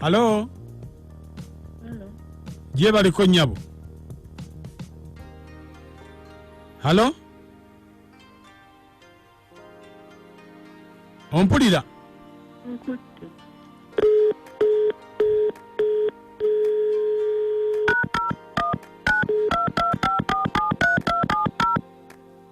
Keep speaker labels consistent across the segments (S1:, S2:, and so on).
S1: halo gyebaliko nyabo halo ompulira
S2: Nkutte.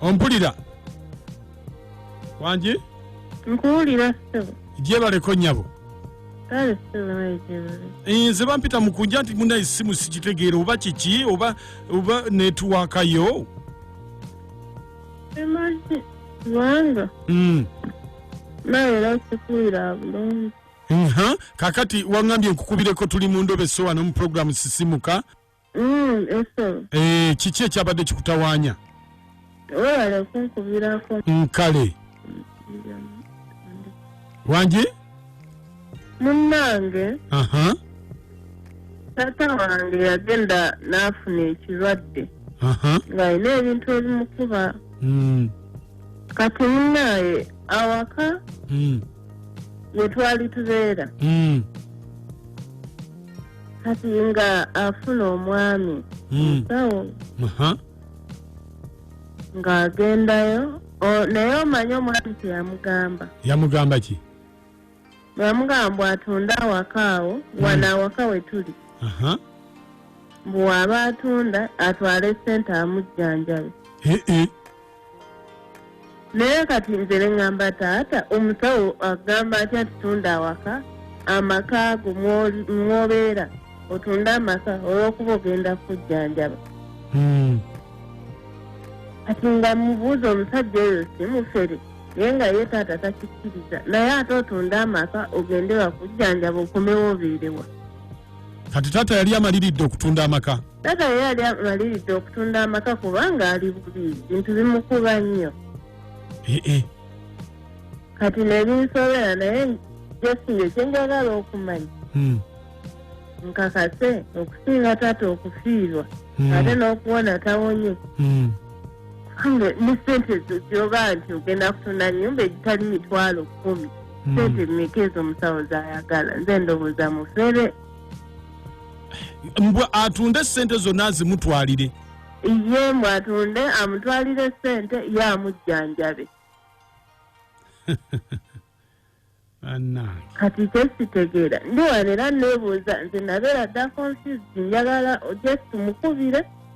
S1: ompulira wangi nkuwulira
S2: ssebo gyebaleko nyabo
S1: kale
S2: ssebo wejebale nze bampita
S1: mukunja nti muna esimu sikitegeera oba kiki oba oba netuwakayo
S2: emagi kubanga Mm. nawe era sikuwulira bulungi Nha, kakati
S1: wangambye nkukubireko tuli mu ndobe so wano mu program sisimuka Mm, yes,
S2: sir. Eh, kiki
S1: ekyabadde kikutawaanya
S2: Webale kunkubirako. nkale
S1: wangi Munnange,
S2: aha taata wange yagenda n'afuna ekirwadde aha ng'alina ebintu ebimukuba mm. kati munaye awaka Mm, wetwali tubeera mm, kati nga afuna omwami mm. sawo Aha. ng'agendayo O- naye omanyi omwami kyeyamugamba yamugamba ki
S1: yamugamba
S2: mbu atunde awaka awo wano awaka we tuli Aha. mbu waba atunda atwale sente amujjanjabe Eh, eh. naye kati nze nengamba taata omusawo agamba atya nti tunda awaka amaka ago mwobeera otunde amaka olwokuba ogenda kujjanjaba hmm. kati nga mubuuza omusajja oyo simufere naye nga ye taata takikkiriza naye ate otunde amaka ogende wakujjanjaba okomewo obeerewa kati
S1: taata yali amaliridde okutunda amaka Taata ye yali
S2: amaliridde okutunda amaka kubanga ali bubi bintu bimukuba nnyo eh, eh. kati nebinsobera naye jesiyo kyenjagala okumanya hmm. nkakase okusinga taata okufiirwa hmm. ate n'okuwona tawonye hmm. kange ne sente ezo gyoba nti ogenda kutunda nyumba egitali mitwalo kumi sente meka ezo omusawo zayagala nze ndowooza mufere
S1: mbwa atunde sente zonna azimutwalire ye
S2: mbwa atunde amutwalire sente ye amujjanjabe kati kyesitegeera ndiwanera nebuuza nze nabeera dda confused njagala just mukubire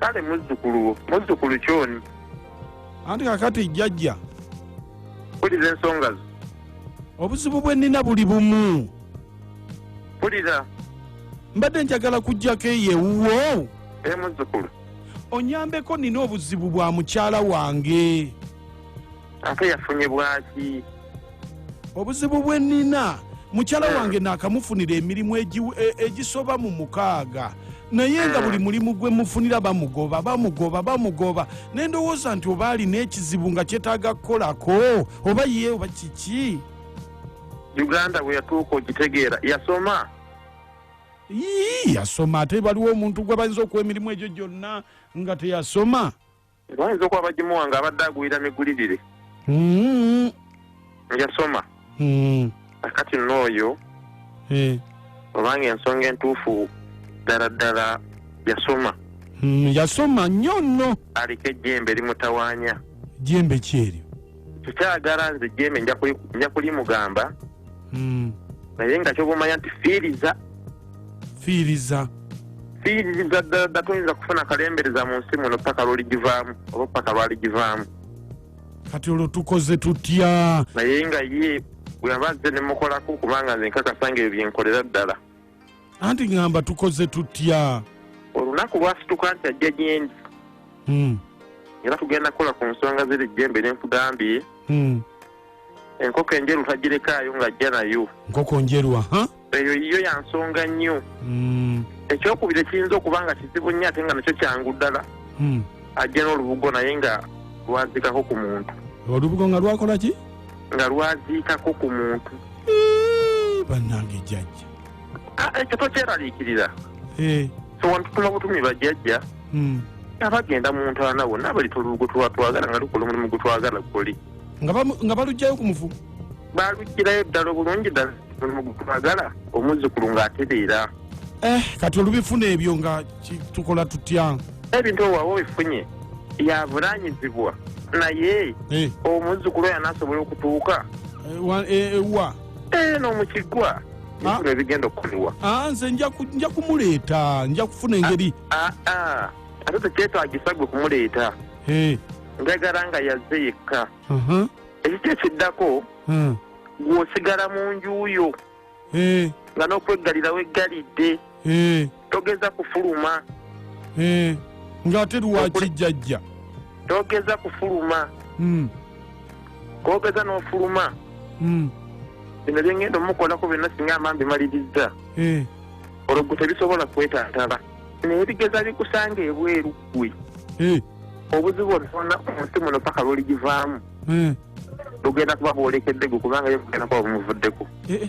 S3: kale muzzukulu muzzukulu kyoni anti
S1: kakati jjajja puliza
S3: ensonga zo
S1: obuzibu
S3: bwe nnina
S1: buli bumu
S3: puliza
S1: mbadde njagala kujjako eyo ewuwo e muzzukulu
S3: onyambeko
S1: nina obuzibu bwa mukyala wange
S3: ate yafunye bwaki
S1: obuzibu bwe nina mukyala hmm. wange naakamufunira emirimu e, egisoba mu mukaaga naye nga hmm. buli mulimu gwe mufunira bamugoba bamugoba bamugoba naye ndowooza nti oba alina ekizibu nga kyetaaga kukolako oba ye oba kiki
S3: uganda bwe yatuuka okitegeera yasoma yii
S1: yasoma ate waliwo omuntu gwe bayinza okuwa emirimu egyo gyonna nga teyasoma bayinza okuba
S3: bagimuwa nga abadde agulira migulirire Mm, yasoma mm, akati nooyo eh, obanga ensonga entuufu ddala ddala yasoma mm, yasoma
S1: nnyo nno aliko ejjembe
S3: limutawaanya jembe
S1: kyeryo tukyagala
S3: nze jeme nja kulimugamba hmm. naye nga kyobumanya nti fiiriza fiiriza fiiriza ddala toyinza kufuna kalembereza mu nsi muno paka lwoligivaamu oba paka lwaligivaamu kati
S1: olwo tukoze tutya naye nga ye
S3: bweyaba nze nemukolako kubanga nze nkakasa nga ebyo byenkolera ddala anti
S1: ŋŋamba tukoze tutya olunaku
S3: lwasituka nti ajja gyendi hmm. era tugenda kukola ku nsonga ziri jjembe ne nkugambye hmm. enkoko enjeru tagirekaayo ng'ajja nayo nkoko njeru aha
S1: eyo yiyo ya
S3: nsonga nnyo hmm. ekyokubiri ekiyinza okuba nga kizibu nnyo ate nga nakyo kyangu ddala ajja n'olubugo naye nga lwaziikako ku muntu olubugo nga lwakola
S1: ki nga lwaziikako
S3: ku muntu
S1: bannange jajja Ah, ekyo
S3: tokyeraliikirira Eh, so wantutuma butumi bajjajja mm. abagenda mu ntaana wonna bali tulugu twatwagala nga lukola omulimu gutwagala guli nga bamu- nga balugjayo
S1: ku mufu balugirayo
S3: ddala obulungi ddala omulimu gutwagala omuzzukulu ng'atereera Eh, kati
S1: olubifuna ebyo nga ki- tukola tutya ebintu owawa
S3: obifunye yavunanyizibwa naye Eh, omuzzukulu oyo anaasobola okutuuka eh, wa- eh, eh,
S1: wa eno mu
S3: kigwa ebintu ebigenda okukolebwa Ah, nze nja ku- nja
S1: kumuleeta nja kufuna engeri Ah, ah.
S3: ate tekyetagisa gwe kumuleeta Eh, njagala nga yazze yekka aha, ekiki ekiddako ah, gweosigala mu nju yo eh, nga n'okweggalira weggalidde eh. togeza kufuluma Eh,
S1: ng'ate lwaki jjajja togeza
S3: kufuluma Mm, kogeza n'ofuluma mm, bino byengenda omukolako byonna singa amambi malirizza eh, olwo gwe tebisobola kwetantala naye bigeza bikusanga ebweru gwe eh, obuzibu onoona omunsi muno paka lwoligivaamu eh, lugenda kuba bwolekedde gwe kubanga yo kugenda kuba bumuvuddeko eh, eh.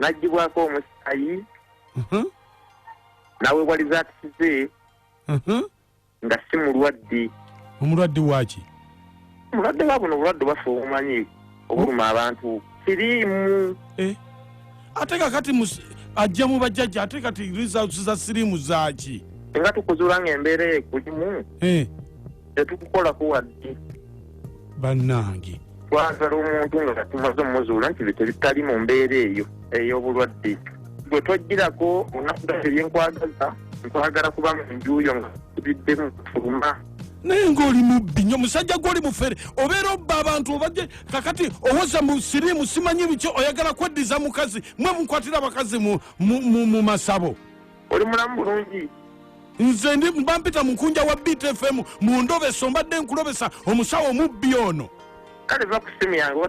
S3: n'aggyibwako omusaayi Mhm, n'aweebwa lizaakisi ze mhm. nga si mulwadde omulwadde
S1: waaki mulwadde
S3: wa buno obulwadde bwaffe obumanyi obuluma abantu siriimu Eh,
S1: ate kakati mus- ajja mu bajjajja ate kati results za siriimu zaaki nga tukuzuula
S3: ng'embeera ekulimu Eh, tetukukolako wadde
S1: bannange twagala
S3: omuntu nga tumaze omuzuula nti bitali mu mbeera eyo ey'obulwadde gwe tojjirako olunaku gati ebyenkwagaza nkwagala kuba mu njuuyo nga tubiddemu kufuluma naye ngaoli
S1: mubbi nyo musajja gwoli mufere obeera obba abantu obaje kakati owoza mu sirimu simanyi biki oyagala kweddiza mukazi mwe mukwatira abakazi mu masabo oli mulamu
S3: bulungi nze ndi
S1: mbampita mukunja wa btfm mu ndobeso
S3: mbadde
S1: nkulobesa omusawo mubbi ono
S3: kale va
S1: ku simu
S3: yange